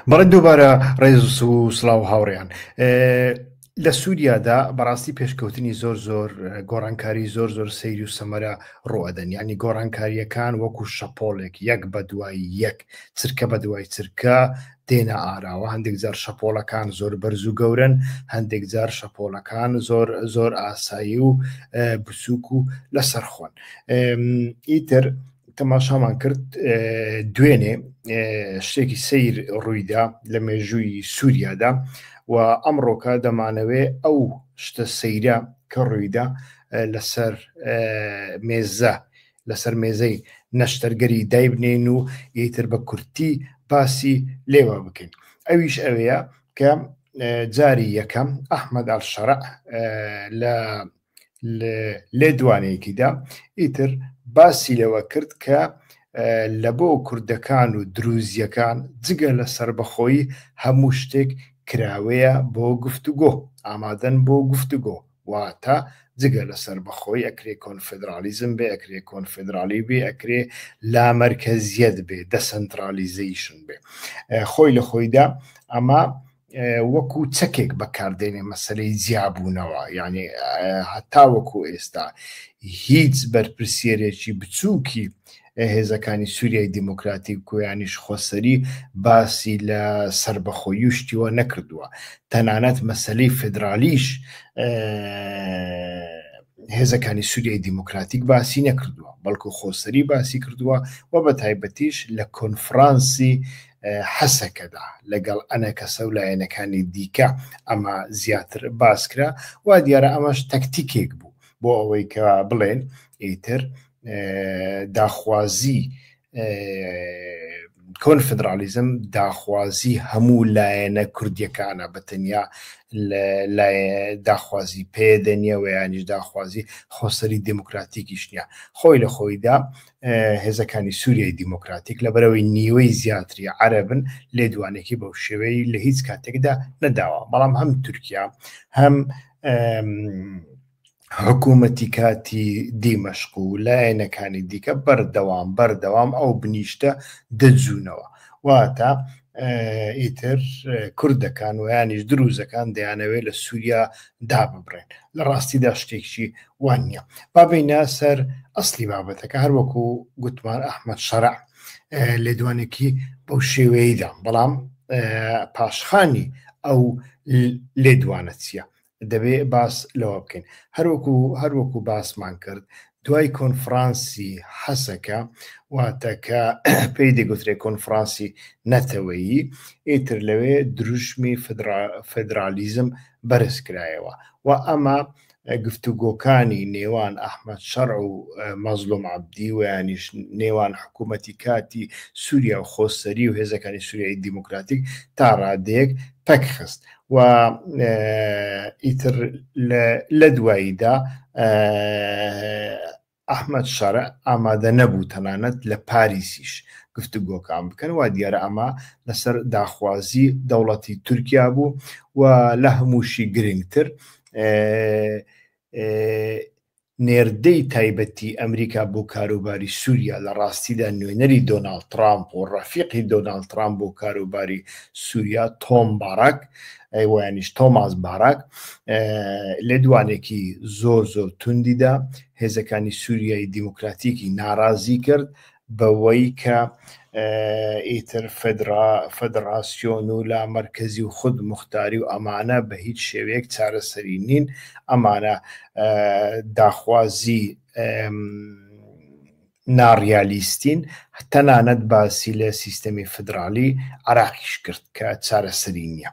بەڵێ دووبارە ڕێز و سلااو هاوڕێیان لە سووریادا بەڕاستی پێشکەوتنی زۆر زۆر گۆڕانکاری زۆر زۆر سەیر و سەمەرە ڕوئەدەن ینی گۆڕانکاریەکان وەکو شەپۆلێک یەک بە دوایی یەک چرکە بە دوای چرکە دێنە ئاراوە هەندێک جار شەپۆلەکان زۆر بەرز و گەورن هەندێک جار شەپۆلەکان زۆر زۆر ئاسایی و بچووک و لەسەرخۆن ئیتر تەماشامان کرد دوێنێ شتێکی سیر ڕوویدا لە مێژووی سووریادا و ئەمڕۆکە دەمانەوێ ئەو شتە سەیرە کە ڕوویدا لەسەر مێزە لەسەر مێزەی نەشتەرگەری دایبنین و یتر بە کورتی باسی لێوە بکەین ئەویش ئەوەیە کە جاری یەکەم ئەحمد ئەلشەرع لە لێدوانێکیدا ئیتر باسی لەوە کرد کە لە بۆ کوردەکان و دروزیەکان جگە لە سربەخۆی هەموو شتێک کراوەیە بۆ گفتوگۆ ئامادەن بۆ گفتوگۆ واتە جگە لە سربەخۆی ئەکرێ کۆنفدرالیزم بێ ئەکرێ کۆنفدرالی بێ ئەکرێ لامەرکەزیەت بێ دەسەنترالیزیشن بێ خۆی لە خۆیدا ئەمە وەکو چەکێک بەکاردێنێ مەسەلەی جیابوونەوە یعنی هەتا وەکو ئێستا هیچ بەرپرسیەرێکی بچووکی هێزەکانی سووریای دیموکراتی کویانیش خۆسەری باسی لە سربەخۆی و شتیوە نەکردووە تەنانەت مەسلەی فدرالیش هێزەکانی سووریای دیموکراتیک باسی نەکردووە بەڵکو خۆسەری باسی کردووە و بە تایبەتیش لە کۆنفرانسی حەسەکەدا لەگەڵ ئەنەکەسە و لایەنەکانی دیکە ئەمە زیاتر باسکرا وا دیارە ئەمەش تەکتیکێک بوو بۆ ئەوەی کە بڵێن ئیتر داخوازی کۆن فدرالیزم داخوازی هەموو لایەنە کوردیەکانە بە تەنیا داخوازی پێدەنیە و ینیش داخوازی خۆسەری دموکراتیکیش نیە خۆی لە خۆیدا هێزەکانی سووریای دیموکراتیک لەبەرەوەی نیوەی زیاتری عەرەبن لێدوانێکی بەو شێوەی لە هیچ کاتێکدا نەداوە بەڵام هەم تورکیا هەم حکوومەتی کاتی دیمەشق و لایەنەکانی دیکە بەردەوام بەردەوام ئەو بنیشتە دەجوونەوە واتە ئیتر کوردەکان ویانیش دروزەکان دەیانەوێت لە سووریا داببرێن لە ڕاستیدا شتێکی وان نییە بابینە سەر ئەسلی بابەتەکە هەروەکو گوتمان ئەحمد شەرع لێدوانێکی بەو شێوەیەدا بەڵام پاشخانی ئەو لێدوانە چییە دەبێ باس لەوە بکەین هەروەکو هەروەکو باسمان کرد دوای کۆنفرانسی حەسەکە واتەکە پێی دەگوترێت کۆنفرانسی نەتەوەیی ئیتر لەوێ دروشمی فدرالیزم بەرزکرایەوە و ئەمە گفتوگۆکانی نێوان ئەحمەد شەرع و مەزلوم عەبدی و یانیش نێوان حکوومەتی کاتی سووریا و خۆسەری و هێزەکانی سووریای دیموکراتیک تا ڕادەیەک پەک خست و ئیتر لە دواییدا ئەحمەد شەرع ئامادە نەبوو تەنانەت لە پاریسیش گفتوگۆکان بکەن، وا دیارە ئەمە لەسەر داخوازی دەوڵەتی تورکیا بوو و لە هەمووشی گرنگتر نێردەی تایبەتی ئەمریکا بۆ کاروباری سووریا لە ڕاستیدا نوێنەری دۆناڵد ترامپ و ڕەفیقی دۆناڵد ترامپ بۆ کاروباری سووریا تۆم باراک ئەیوەیانیش تۆماس باراک لە دوانێکی زۆر زۆر توندیدا هێزەکانی سووریای دیموکراتیکی ناڕازی کرد بەوەی کە ئیتر فدرا فدراسیۆن و لا مرکزی و خود مختاری و ئەمانە بە هیچ شێوەیەک چارەسەری نین ئەمانە داخوازی ناڕیالیستین، تەنانەت باسی لە سیستەمی فیدراڵی عێراقیش کرد کە چارەسەری نییە.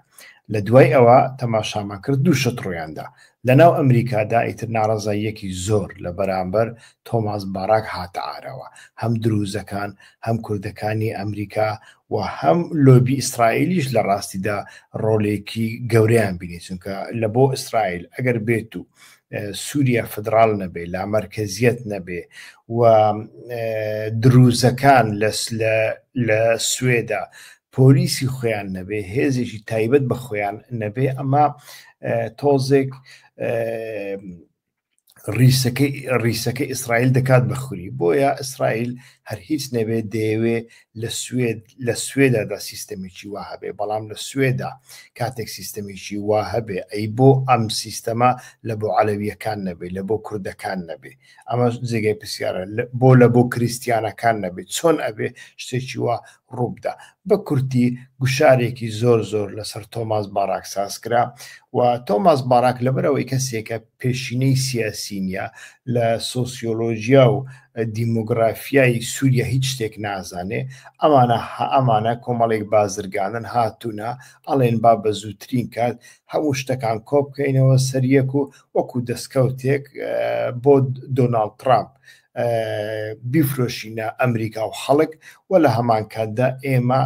لە دوای ئەوە تەماشامان کرد دوو شت ڕوویان دا. لە ناو ئەمریکادا ئیتر ناڕەزاییەکی زۆر لە بەرامبەر تۆماس باراک هاتە ئارەوە. هەم درووزەکان، هەم کوردەکانی ئەمریکا و هەم لۆبی ئیسرائیلیش لە ڕاستیدا ڕۆلێکی گەورەیان بینی، چونکە لە بۆ ئیسرائیل ئەگەر بێت و سووریا فدراڵ نەبێ لامەرکەزیەت نەبێ و دروزەکان لە سوێدا پۆلیسی خۆیان نەبێ هێزێکی تایبەت بە خۆیان نەبێ ئەمە تۆزێک ریسەکەی ئیسرائیل دەکات بەخوری بۆیە ئیسرائیل هەر هیچ نەبێت دەیەوێ لە سوێد لە سوێدەدا سیستەمێکی وا هەبێ بەڵام لە سوێدا کاتێک سیستەمێکی وا هەبێ ئەی بۆ ئەم سیستەما لە بۆ عەلەویەکان نەبێ لە بۆ کوردەکان نەبێ ئەمە جێگای پرسیارە بۆ لە بۆ کریسیانەکان نەبێ چۆن ئەبێ شتێکی وا ڕووبدا بە کورتی گوشارێکی زۆر زۆر لەسەر تۆماس باراک ساز کرا و تۆماس باراک لەبەرەوەی کەسێکە پێشینەی سیاسی نیە لە سۆسیۆلۆژیا و دیمۆگرافیای سوریا هیچ شتێک نازانێ ئەمانە ئەمانە کۆمەڵێک بازرگانن هاتوونە ئەڵێن با بە زووترین کات هەموو شتەکان کۆبکەینەوە سەریەک و وەکو دەستکەوتێک بۆ دۆناالد ترامپ بیفرۆشینە ئەمریکا و خەڵک و لە هەمان کاتدا ئێمە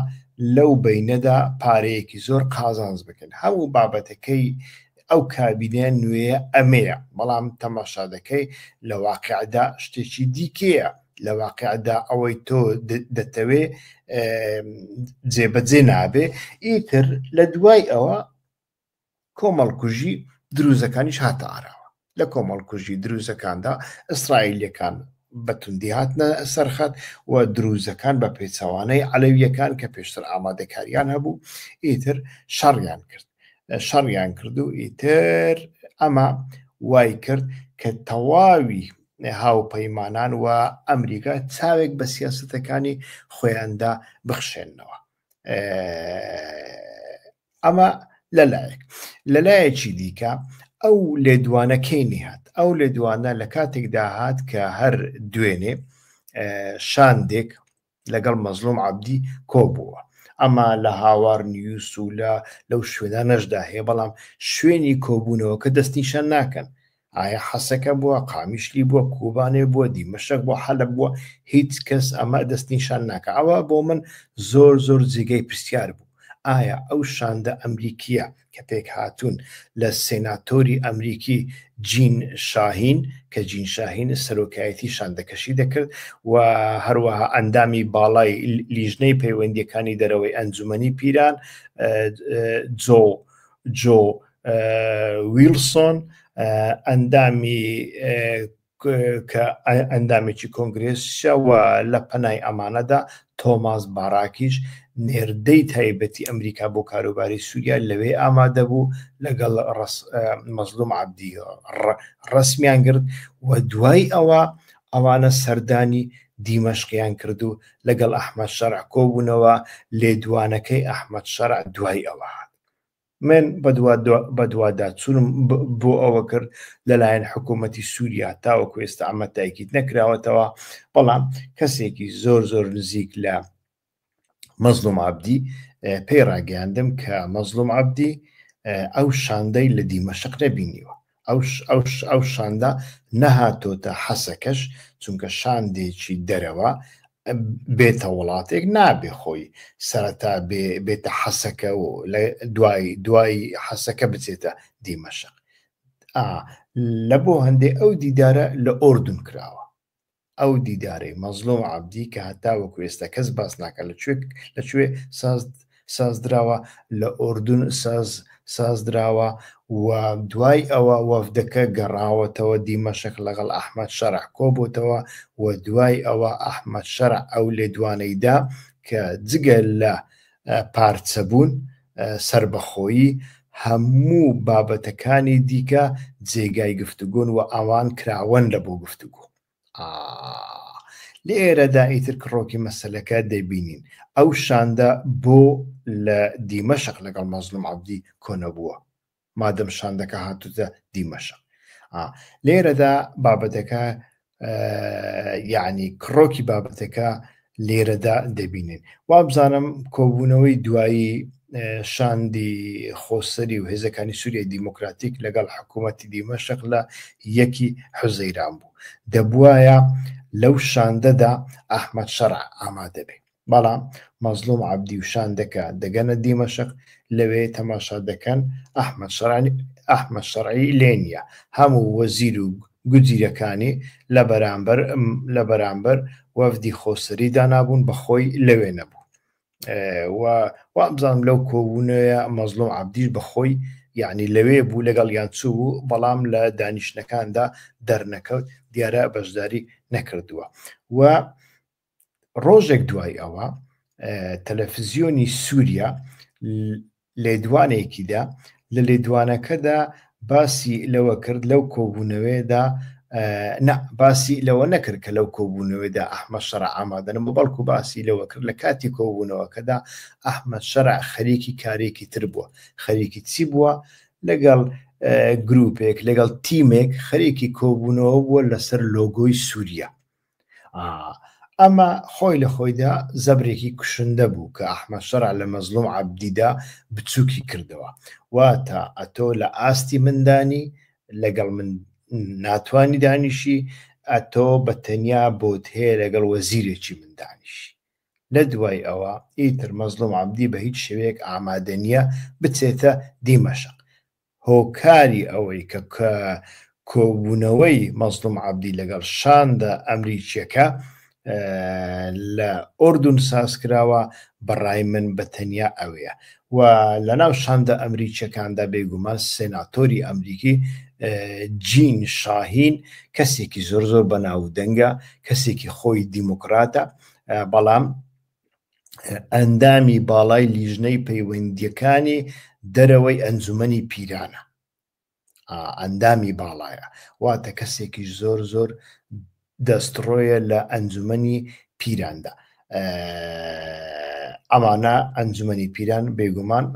لەو بینەدا پارەیەکی زۆر قازانز بکەن هەموو بابەتەکەی ئەو کابینە نوێیە ئەمەیە، بەڵام تەماشا دەکەی لە واقیعدا شتێکی دیکەیە، لە واقیعدا ئەوەی تۆ دەتەوێ جێبەجێ نابێ، ئیتر لە دوای ئەوە کۆمەڵکوژی دروزەکانیش هاتە ئاراوە لە کۆمەڵکوژی دروزەکاندا ئیسرائیلەکان بەتوندی هاتنە سەرخەت و دروزەکان بە پێچەوانەی عەلەویەکان کە پێشتر ئامادەکاریان هەبوو ئیتر شەڕیان کرد شەڕیان کرد و ئیتر ئەمە وای کرد کە تەواوی هاوپەیمانان و ئەمریکا چاوێک بە سیاستەکانی خۆیاندا بخشێنەوە ئەمە لەلایەک لەلایەکی دیکە ئەو لێدوانەکەی نهات ئەو لێدوانە لە کاتێکدا هات کە هەر دوێنێ شاندێک لەگەڵ مەزلوم عەبدی کۆبووە ئەمە لە هاوار نیوس و لە لەو شوێنانەشدا هەیە بەڵام شوێنی کۆبوونەوەکە دەست نیشان ناکەن ئایا حەسەکە بووە قامیشلی بووە کوبانێ بووە دیمەشەک بۆ حەلە بووە هیچ کەس ئەمە دەست نیشان ناکە ئەوە بۆ من زۆر زۆر جێگەی پرسیار بوو ئایا ئەو شاندە ئەمریکیە کە پێک هاتوون لە سێناتۆری ئەمریکی جین شاهین کە جین شاهین سەرۆکایەتی شاندەکەشی دەکرد و هەروەها ئەندامی باڵای لیژنەی پەیوەندیەکانی دەرەوەی ئەنجومنی پیران جۆ جۆ ویلسۆن ئەندامی کە ئەندامێکی کۆنگرێسە و لە پەنای ئەمانەدا تۆماس باراکیش نێردەی تایبەتی ئەمریکا بۆ کاروباری سووریا لەوێ ئامادە بوو لەگەڵ مەزلوم عبدی ڕسمیان گرت و دوای ئەوە ئەوانە سەردانی دیمەشقیان کرد و لەگەڵ ئەحمد شەرع کۆبوونەوە لێدوانەکەی ئەحمد شەرع دوای ئەوە هات من بەدواداچوونم بۆ ئەوە کرد لەلایەن حکوومەتتی سووریا تاوەکو ئێستا ئەمە تایکیت نەکراوەتەوە بەڵام کەسێکی زۆر زۆر نزیک لە مەزلوم عبدی پێی ڕاگەیاندم کە مەزلوم عبدی ئەو شاندەی لە دیمەشق نەبینیوە ئەو شاندە نەهاتۆتە حەسەکەش چونکە شاندێکی دەرەوە بێتە وڵاتێک نابێ خۆی سەرەتا بێتە حەسەکە و لە دوای دوای حەسەکە بچێتە دیمەشق لە بۆ هەندێک ئەو دیدارە لە ئۆردون کراوە ئەو دیدارەی مەزلوم عەبدی کە هەتاوەکو ئێستا کەس باس ناکات لە کوێ لە کوێ ساز سازدراوە لە ئۆردون ساز سازدراوە و دوای ئەوە وەفدەکە گەڕاوەتەوە دیمەشق لەگەڵ ئەحمد شەرع کۆبووتەوە و دوای ئەوە ئەحمد شەرع ئەو لێدوانەیدا کە جگە لە پارچەبوون، سەربەخۆیی، هەموو بابەتەکانی دیکە جێگای گفتوگۆن و ئەوان کراوەن لە بۆ گفتوگۆ. لێرەدا ئیتر کڕۆکی مەسلەکە دەبینین ئەو شاندە بۆ لە دیمەشق لەگەڵ مەزلوم عبدی کۆنەبووە مادەم شاندەکە هاتوتە دیمەشق لێرەدا بابەتەکە یعنی کڕۆکی بابەتەکە لێرەدا دەبینین وابزانم کۆبوونەوەی دوایی شاندی خۆسەری و هێزەکانی سووریای دیموکراتیک لەگەڵ حکوومەتتی دیمەشق لە یەکی حوزەیران بوو دەبواە لەو شاندەدا ئەحمد شەرع ئامادەبێ بەڵام مەزڵوم عەبدی و شاندەکە دەگەنە دیمەشق، لەوێ تەماشا دەکەن ئەحمەد شەرعی لێ نییە، هەموو وەزیر و گوجیرەکانی لە بەرامبەر وەفدی خۆسەری دانابوون، بە خۆی لەوێ نەبوو و وابزانم لەو کۆبوونەوەیە مەزڵوم عەبدیش بە خۆی یەعنی لەوێ بوو، لەگەڵیان چووبوو، بەڵام لە دانیشتنەکاندا دەرنەکەوت، دیارە بەشداری نەکردووە و ڕۆژێک دوای ئەوە تەلەفزیۆنی سووریا لێدوانێکیدا لە لێدوانەکەدا باسی لەوە کرد لەو کۆبوونەوەیەدا باسی لەوە نەکرد کە لەو کۆبوونەوەدا ئەحمە شەر ئامادەن بۆ بەڵکو باسی لەوە کرد لە کاتی کۆبوونەوەکەدا ئەحمە شەر خەریکی کارێکی تر بووە خەریکی چی بووە لەگەڵ گروپێک لەگەڵ تیمێک خەریکی کۆبوونەوە بووە لەسەر لۆگۆی سووریا ئەمە خۆی لە خۆیدا زەبرێکی کوشندە بوو کە ئەحمە شەرع لە مەزلوم عبدیدا بچووکی کردەوە واتە ئەتۆ لە ئاستی مندانی لەگەڵ من ناتوانانی دانیشی ئەتۆ بە تەنیا بۆت هەیە لەگەڵ وەزیرێکی مندانیشی لە دوای ئەوە ئیتر مەزلوم عبدی بە هیچ شوێک ئامادە نییە بچێتە دیمەشق هۆکاری ئەوەی کە کۆبوونەوەی مەزڵوم عەبدی لەگەڵ شاندە ئەمریکییەکە لە ئوردون سازکراوە بەڕای من بە تەنیا ئەوەیە و لەناو شاندە ئەمریکییەکاندا بێگومان سێناتۆری ئەمریکی جین شاهین کەسێکی زۆر زۆر بەناو دەنگە کەسێکی خۆی دیموکراتە بەڵام ئەندامی باڵای لیژنەی پەیوەندیەکانی دەرەوەی ئەنجومەنی پیرانە ئەندامی باڵایە واتە کەسێکی زۆر زۆر دەستڕۆیە لە ئەنجومەنی پیراندا ئەمانە ئەنجومەنی پیران بێگومان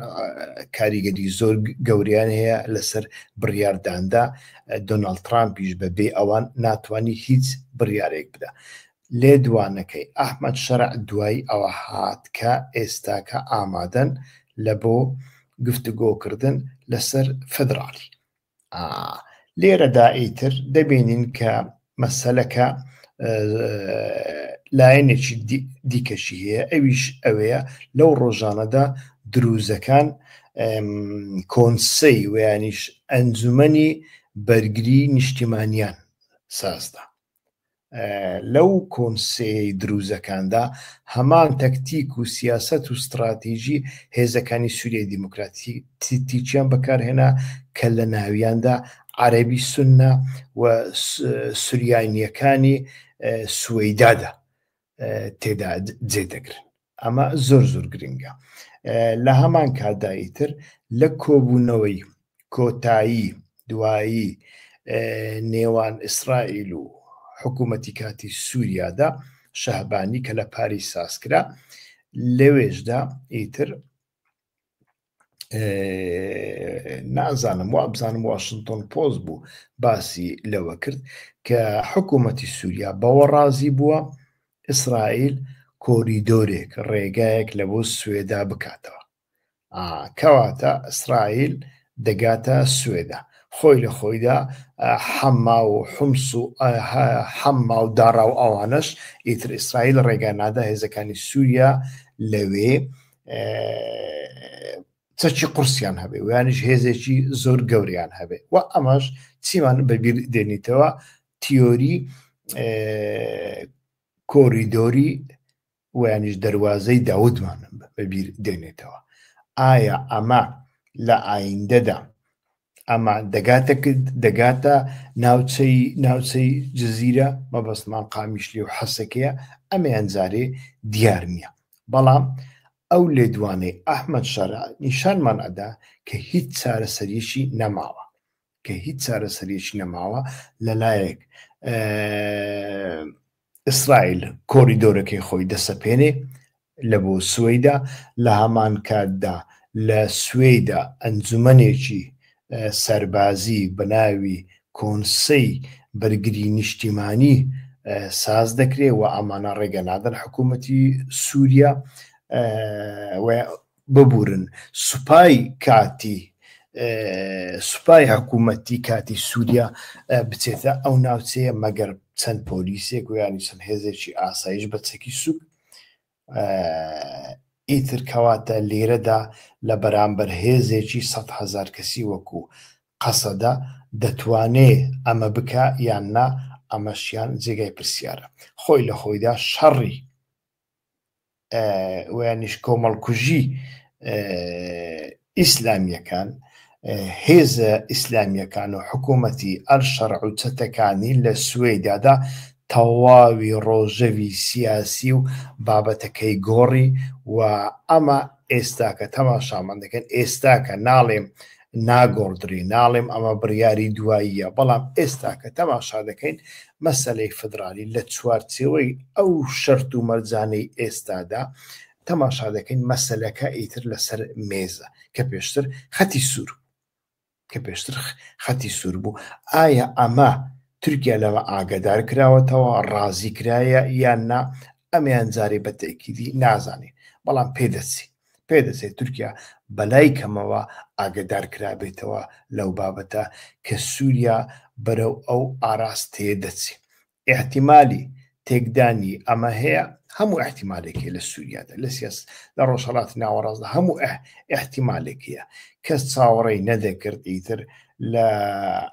کاریگەری زۆر گەوریان هەیە لەسەر بڕارداندا دۆناالد ترامپیش بەبێ ئەوان ناتوانانی هیچ بڕارێک بدا لێدوانەکەی ئەحمەد شەرع دوای ئەوە هات کە ئێستاکە ئامادەن لە بۆ گفتوگۆکردن لەسەر فیدراڵی. لێرەدا ئیتر دەبینین کە مەسەلەکە لایەنێکی دیکەشی هەیە ئەویش ئەوەیە لەو ڕۆژانەدا دروزەکان کۆنسەی ویانیش ئەنجومنی بەرگری نیشتیمانیان سازدا لەو کۆنسەی دروزەکاندا هەمان تەکتیک و سیاست و ستراتیژی هێزەکانی سووریای دیموکراتی تیچیان بەکارهێنا کە لە ناویاندا عەربی سنە و سوریانیەکانی سوەیدادا تێدا جێ دەگرن ئەمە زۆر زۆر گرنگە لە هەمان کاتدایی تر لە کۆبوونەوەی کۆتایی دوایی نێوان ئیسرائیل و حکوومەتی کاتی سووریادا شەهبانی کە لە پاری سازکرا لەوێشدا ئیتر نازانم وابزانم واشنتۆن پۆز بوو باسی لەوە کرد کە حکوومەتی سووریا بەوە ڕازی بووە ئیسرائیل کۆریدۆرێک ڕێگایەک لە بۆ سوێدا بکاتەوە کەواتە ئیسرائیل دەگاتە سوێدا خۆی لە خۆیدا حەما و حمس و حەما و داڕا و ئەوانەش ئیتر ئیسرائیل ڕێگا نادا هێزەکانی سووریا لەوێ چەکی قورسیان هەبێ ویانش هێزێکی زۆر گەوریان هەبێ و ئەمەش چیمان بەبییر دێنیتەوە تیۆری کۆریدۆری ویانش دەواازەی داودمان بەبییر دێنێتەوە ئایا ئەمە لە ئایندەدا ئەمە دەگاتە کرد دەگاتە ناوچەی ناوچەی جززیرە مەبەستمان قامیشلی و حەسەکەیە ئەمەیان جارێ دیار نییە بەڵام ئەو لێدوانەی ئەحمد شەرع نیشانمان ئەدا کە هیچ چارەسەریشی نەماوە کە هیچ چارەسەریش نەماوە لەلایەک ئیسرائیل کۆریدۆرەکەی خۆی دەسەپێنێ لە بۆ سوەیدا، لە هەمان کاتدا لە سوەیدا ئەنجومەنێکی سەربازی بە ناوی کۆنسەی بەرگری نیشتیمانی ساز دەکرێ و ئەمانە ڕێگە نادەن حکوومەتی سووریا ببورن سوپای کاتی سوپای حکوومەتی کاتی سووریا بچێتە ئەو ناوچەیە مەگەر چەند پۆلیسێک و ینی چەند هێزێکی ئاسایش بە چەکی سوک ئیتر کەواتە لێرەدا لە بەرامبەر هێزێکی سە هزار کەسی وەکو قەسەدا دەتوانێ ئەمە بکە یان نا ئەمەشیان جێگای پرسیارە خۆی لە خۆیدا شەڕی ویانیش کۆمەڵکوژی ئیسلامیەکان هێزە ئیسلامیەکان و حکوومەتی ئەل شەرع و چەتەکانی لە سوێدادا تەواوی ڕۆژەوی سیاسی و بابەتەکەی گۆڕی و ئەمە ئێستاکە تەماشامان دەکەن ئێستاکە ناڵێم ناگۆڕدرێ، ناڵێم ئەمە بڕیاری دواییە، بەڵام ئێستا کە تەماشا دەکەین مەسەلەی فیدرالی لە چوارچێوەی ئەو شەرت و مەرجانەی ئێستادا تەماشا دەکەین مەسەلەکە ئیتر لەسەر مێزە کە پێشتر خەتی سوور کە پێشتر خەتی سوور بوو ئایا ئەمە تورکیا لەمە ئاگدار کراوەتەوە ڕازی کرایە یان نا ئەمیان جارێ بە تەکیدی نازانین بەڵام پێدەچین پێدەچێت تورکیا بەلای کەمەوە ئاگەدار کرابێتەوە لەو بابەتە کە سوریا بەرەو ئەو ئاراستەیە دەچێت ئیحتیمالی تێکدانی ئەمە هەیە هەموو احتیمالێکی لە سووریادا لە سیاس لە ڕۆژهڵاتی ناوەڕاستدا هەموو ئەه احتیمالێکیە کەس چاوەڕێی نەدەکرد ئیتر لە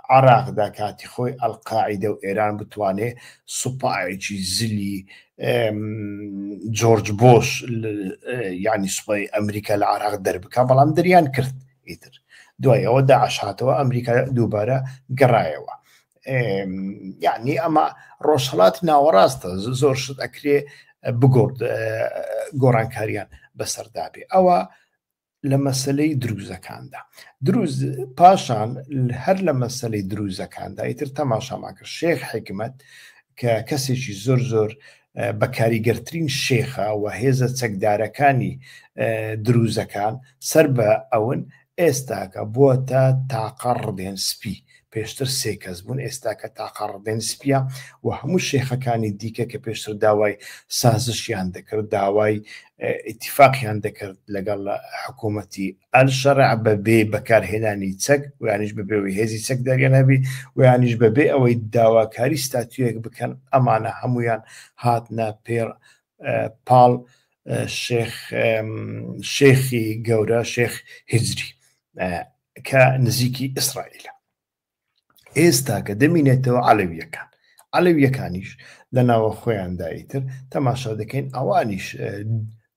عراقدا کاتی خۆی ئەلقاعیدە و ئێران بتوانێ سوپایەکی زلی جۆرج بۆش ینی سوپای ئەمریکا لە عراق دەربکە بەڵام دەریان کرد ئیتر دوای ئەوە داعشاتەوە ئەمریکا دووبارە گەڕایەوە یعنی ئەمە ڕۆژهڵات ناوەڕاستە زۆر شت ئەکرێ بگۆڕ گۆڕانکاریان بەسەردابێ ئەوە لە مەسلەی دروزەکاندا دروز پاشان هەر لە مەسلەی دروزەکاندا ئیتر تەماشامان کرد شێخ حکمت کە کەسێکی زۆر زۆر بە کاریگەرترین شێخە و هێزە چەکدارەکانی دروزەکان سەر بە ئەون ئێستاکە بووە تا تاقە ڕدێن سپی پێشتر سێ کەس بوون ئێستاکە تاقاڕدێن سپیە و هەموو شێخەکانی دیکە کە پێشتر داوای سازشیان دەکرد داوای ئیتیفاقیان دەکرد لەگەڵ حکوومەتی ئەلشەرع بە بێ بەکارهێنانی چەک ویانیش بە بێەوەی هێزی چەک دەرگەنەبی ویانیش بە بێ ئەوەی داواکاری ستاتویەک بکەن ئەمانە هەمویان هاتنە پێڕ پاڵ شێخ شێخی گەورە شێخ هجری کە نزیکی ئیسرائیلە ئێستا کە دەمینێتەوە عەلەویەکان عەلەویەکانیش لە ناوە خۆیانداییتر تەماشا دەکەین ئەوانیش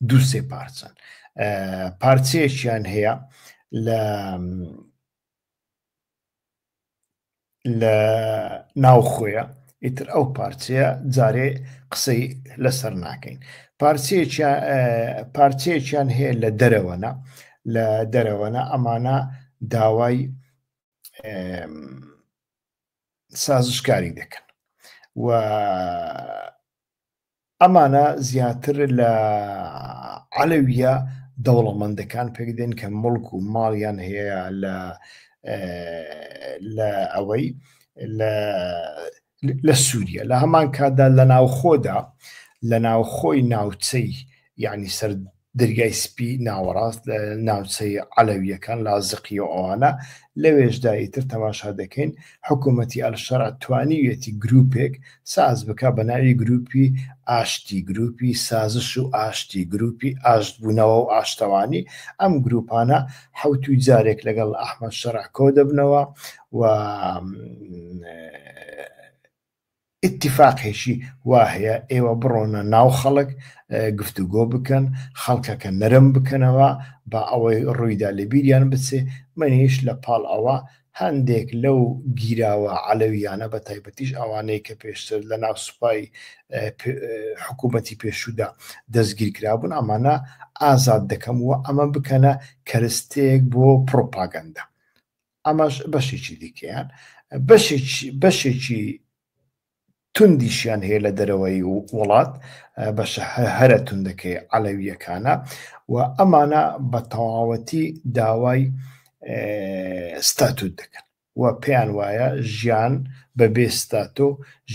دوو سێ پارچەن پارچەیەکیان هەیە لە لە ناو خۆیە ئیتر ئەو پارچەیە جارێ قسەی لەسەر ناکەین پارچەیەکیان هەیە لە دەرەوەنا لە دەرەوەنا ئەمانە داوای سازشکاری دەکەن و ئەمانە زیاتر لە عەلەویە دەوڵەمەندەکان پێکدێن کە مڵک و ماڵیان هەیە لە لە ئەوەی لە لە سووریە لە هەمان کاتدا لە ناوخۆدا لە ناوخۆی ناوچەی یعنی سەر دەریای سپی ناوەڕاست لە ناوچەی عەلەویەکان لازقی و ئەوانە لەوێشدا ئیتر تەماشا دەکەین حکوومەتتی ئەلشەر توانیویەتی گروپێک ساز بک بە ناوی گروپی ئاشتی گروپی سازش و ئاشتی گروپی ئاشت بوونەوە و ئاشتەوانی ئەم گروپانە حوت و جارێک لەگەڵ ئەحمد شەرع کۆ دەبنەوە و ئتیفاقێکی وا هەیە ئێوە بڕۆنە ناو خەڵک گفتوگۆ بکەن خەڵکەکە نەرم بکەنەوە با ئەوەی ڕوویدا لە بیریان بچێ منیش لە پاڵ ئەوە هەندێک لەو گیراوە عەلەویانە بە تایبەتیش ئەوانەی کە پێشتر لە ناو سوپای حکوومەتی پێشودا دەستگیر کرابوون ئەمانە ئازاد دەکەم و ئەمە بکەنە کەرستێک بۆ پرۆپاگەندە ئەمەش بەشێکی دیکەیان بەشێکی توندیشیان هەیە لە دەرەوەی وڵات بەشە هەرە توندەکەی عەلەویەکانە و ئەمانە بە تەواوەتی داوای ستاتوت دەکەن و پێیان وایە ژیان بە بێستاتۆ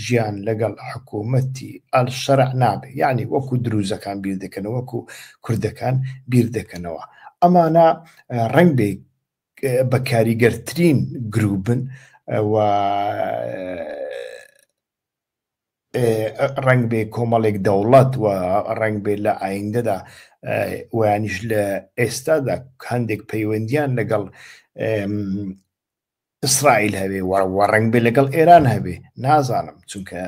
ژیان لەگەڵ حکوومەتی ئەل شەرع نابێ یعنی وەکو دروزەکان بیر دەکەنەوە وەکو کوردەکان بیر دەکەنەوە ئەمانە ڕنگ بێ بە کاریگەرترین گروبن و ڕنگ بێ کۆمەڵێک دەوڵەت و ڕنگ بێ لە ئایندەدا ویانیش لە ئێستادا هەندێک پەیوەندیان لەگەڵ ئیسرائیل هەبێ وە ڕنگ بێ لەگەڵ ئێران هەبێ نازانم چونکە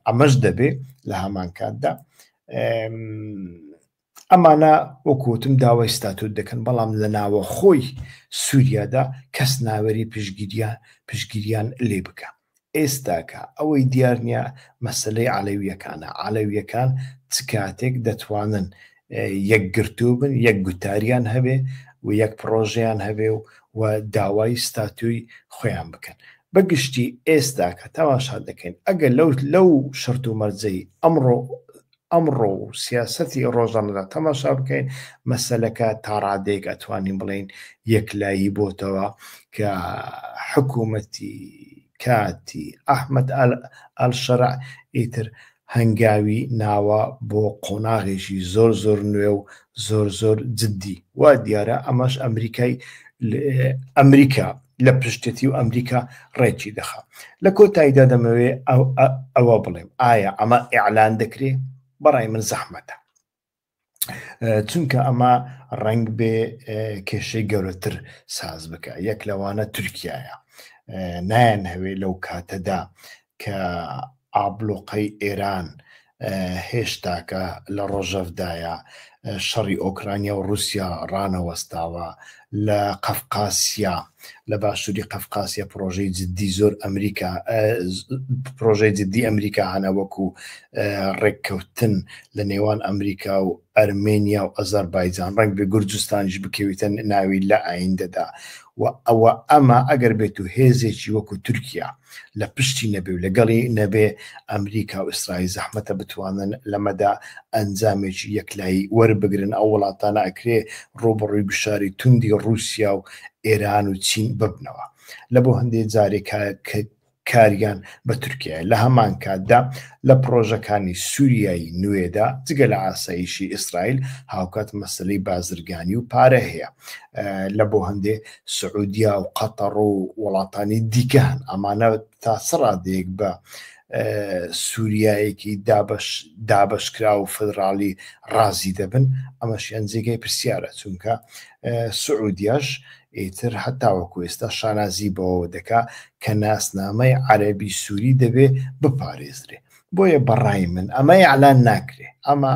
ئەمەش دەبێ لە هەمان کاتدا ئەمانە وەکو وتم داوای ستاتوت دەکەن، بەڵام لە ناوەخۆی سوریادا کەس ناوێری پشتگیریان پشتگیریان لێ بکا. ئێستاکە ئەوەی دیار نیە مەسەلەی عەلەویەکانە، عەلەویەکان چ کاتێک دەتوانن یەکگرتوو بن، یەک گوتاریان هەبێ و یەک پڕۆژەیان هەبێ و و داوای ستاتوی خۆیان بکەن. بە گشتی ئێستاکە تەماشا دەکەین ئەگەر لەو لەو شەرت و مەرجەی ئەمڕۆ ئەمڕۆ و سیاسەتی ئەو ڕۆژانەدا تەماشا بکەین، مەسەلەکە تا ڕادەیەک ئەتوانین بڵێین یەکلایی بۆتەوە کە حکوومەتی کاتی ئەحمەد ئەلشەرع ئیتر هەنگاوی ناوە بۆ قۆناغێکی زۆر زۆر نوێ و زۆر زۆر جددی. وا دیارە ئەمەش ئەمریکای ئەمریکا لە پشتەتی و ئەمریکا ڕێکی دەخا لە کۆتاییدا دەمەوێ ئەوە بڵێم ئایا ئەمە ئیعلان دەکرێ بەڕای من زەحمەتە چونکە ئەمە ڕنگ بێ کێشەی گەورەتر ساز بکە یەک لەوانە تورکایە نایەن هەوێ لەو کاتەدا کە ئابڵوقەی ئێران هێشتاکە لە ڕۆژەڤدایە، شەڕی ئۆکرانیا و ڕووسیا ڕانەوەستاوە، لە قەفقاسیا، لە باشووری قەفقاسیا پڕۆژەی جددی زۆر ئەمریکا پڕۆژەی جددی ئەمریکا هەنە وەکوو ڕێککەوتن لە نێوان ئەمریکا و ئەرمێنیا و ئەزەربایجان ڕەنگە گورجستانیش بکەویتە ناوی لە ئایندەدا و ئەوە ئەمە ئەگەر بێت و هێزێکی وەکو تورکیا لە پشتی نەبێ و لەگەڵی نەبێ ئەمریکا و ئیسرائیل زەحمەتە بتوانن لەمەدا ئەنجامێکی یەکلایی وەربگرن ئەو وڵاتانە ئەکرێ ڕووبەڕووی گوشاری توندی ڕووسیا و ئێران و چین ببنەوە لە بۆ هەندێ جارێکە کە کاریان بە تورکیایە، لە هەمان کاتدا لە پڕۆژەکانی سووریای نوێدا جگە لە ئاسایشی ئیسرائیل هاوکات مەسەلەی بازرگانی و پارە هەیە لە بۆ هەندێ سعودیا و قەتەڕ و وڵاتانی دیکە هەن ئەمانە تا سڕادێک بە سووریایەکی دابش دابشکرا و فدراڵی ڕازی دەبن ئەمەشیان جێگەی پرسیارە چونکە سعودیاش ئیتر هەر تاوەکو ئێستا شانازی بەوەوە دەکا کە ناسنامەی عەرەبی سووری دەبێ بپارێزرێ. بۆیە بە ڕای من ئەمە ئیعلان ناکرێ. ئەمە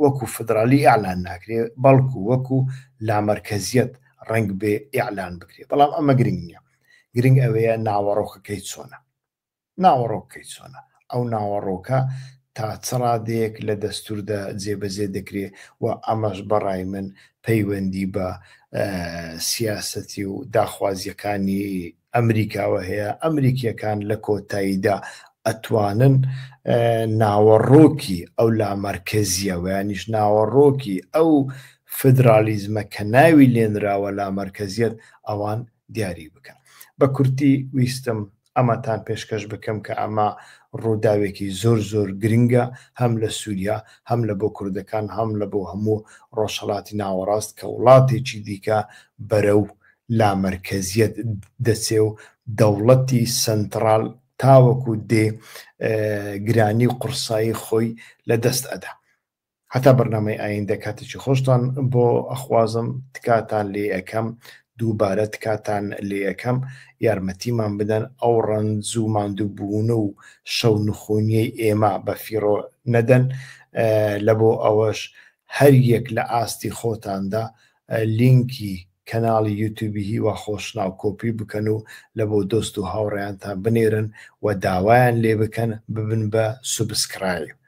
وەکو فیدرالی ئیعلان ناکرێ، بەڵکو وەکو لامەرکەزییەت ڕەنگبێ ئیعلان بکرێ. بەڵام ئەمە گرنگ نییە. گرنگ ئەوەیە ناوەڕۆکەکەی چۆنە. ناوەڕۆک کەی چۆنە؟ ئەو ناوەڕۆکە تا چ ڕادەیەک لە دەستووردا جێبەجێ دەکرێ و ئەمەش بە ڕای من پەیوەندی بە سیاسەتی و داخوازییەکانی ئەمریکاوە هەیە، ئەمریکییەکان لە کۆتاییدا ئەتوانن ناوەڕۆکی ئەو لامەرکەزییە و یانیش ناوەڕۆکی ئەو فیدرالیزمە کە ناوی لێنراوە لامەرکەزیەت ئەوان دیاری بکەن. بە کورتی ویستم ئەمەتان پێشکەش بکەم کە ئەمە ڕووداوێکی زۆر زۆر گرنگە هەم لە سووریا هەم لە بۆ کوردەکان هەم لە بۆ هەموو ڕۆژهەڵاتی ناوەڕاست کە وڵاتێکی دیکە بەرەو لامەرکەزیەت دەچێ و دەوڵەتی سەنتڕاڵ تاوەکو دێ گرانی و قوڕسایی خۆی لە دەست ئەدا. هەتا بەرنامەی ئایندە کاتێکی خۆشتان بۆ ئەخوازم تکاتان لێ ئەکەم دووبارە تکاتان لێ ئەکەم یارمەتیمان بدەن ئەو ڕەنج و ماندووبوون و شەو نخونیەی ئێمە بە فیڕۆ نەدەن لە بۆ ئەوەش هەر یەک لە ئاستی خۆتاندا لینکی کەناڵی یوتوبی هیوا خۆشناو کۆپی بکەن و لە بۆ دۆست و هاوڕێیانتان بنێرن و داوایان لێ بکەن ببن بە سوبسکرایب